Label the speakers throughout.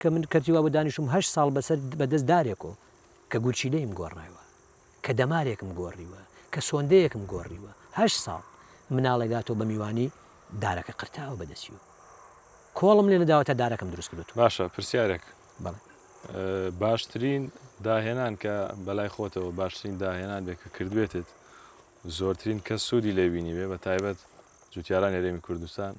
Speaker 1: کە من کەرتی وابوو دانیشتووم هەشت ساڵ بەسەر بەدەست دارێک و کە گورچیلەیم گۆڕایوە، کە دەمارێکم گۆڕیوە، کە سۆندەیەکم گۆڕیوە، هەشت ساڵ مناڵێک هاتووە بە میوانی دارەکە قرتاوە بەدەستی و کۆڵم لێ نەداوە تا دارەکەم دروست کردووەتەوە. باشە پرسیارێک؟
Speaker 2: بەڵێ. باشترین داهێنان کە بەلای خۆتەوە باشترین داهێنان بێ کە کردبێتت زۆرترین کەس سوودی لێ بینیبێ بە تایبەت جوتیارانی هەرێمی کوردستان؟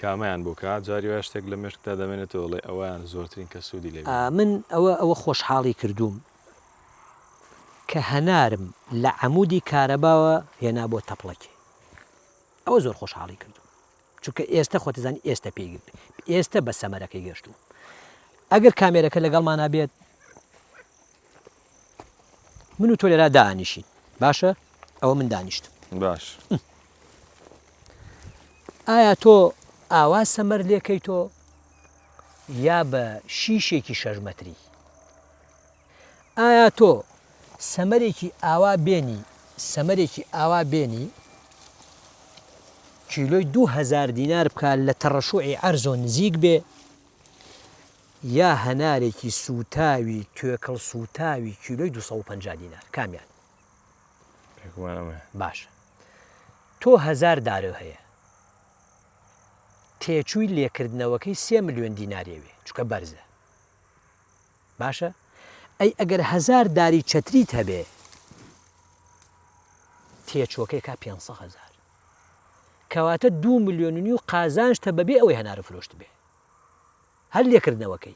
Speaker 2: کامەیان بۆ کا جاری وایە شتێک لە مێشکتا دەمێنێتەوە ئەڵێی ئەوەیان زۆرترین کەس سوودی لێ بینی. من ئەوە ئەوە
Speaker 1: خۆشحاڵی کردووم کە هەنارم لە عەمودی کارەباوە هێنا بۆ تەپڵەکێ ئەوە زۆر خۆشحاڵی کردووم چونکە ئێستە خۆت ئەزانی ئێستە پێی ئێستە بە سەمەرەکەی گەشتووم ئەگەر کامێرەکە لەگەڵمانا بێت من و تۆ لێرا دانیشین باشە ئەوە من دانیشتم باش ئایا تۆ ئاوا سەمەر لێکەی تۆ یا بە شیشێکی شەژمەتری ئایا تۆ سەمەرێکی ئاوا بێنی سەمەرێکی ئاوا بێنی کیلۆی دوهزار دینار بکە لە تەڕەشوعی ئەرزۆ نزیک بێ یا هەنارێکی سووتاوی توێکڵ سووتاوی کیلۆی دوو سەد و پەنجا دینار کامیان پێکمان ئەمە باشە تۆ هەزار دارۆ هەیە تێچووی لێکردنەوەکەی سێ ملیۆن دیناریەوێ چکە بەرزە باشە ئەی ئەگەر هزار داری چەتریت هەبێ تێچووەکەی کا پێ هزار کەواتە دو ملیۆننی و قازانشتە بەبێ ئەوەی هەنارە فرۆشت بێ هەر لێکردنەوەکەی.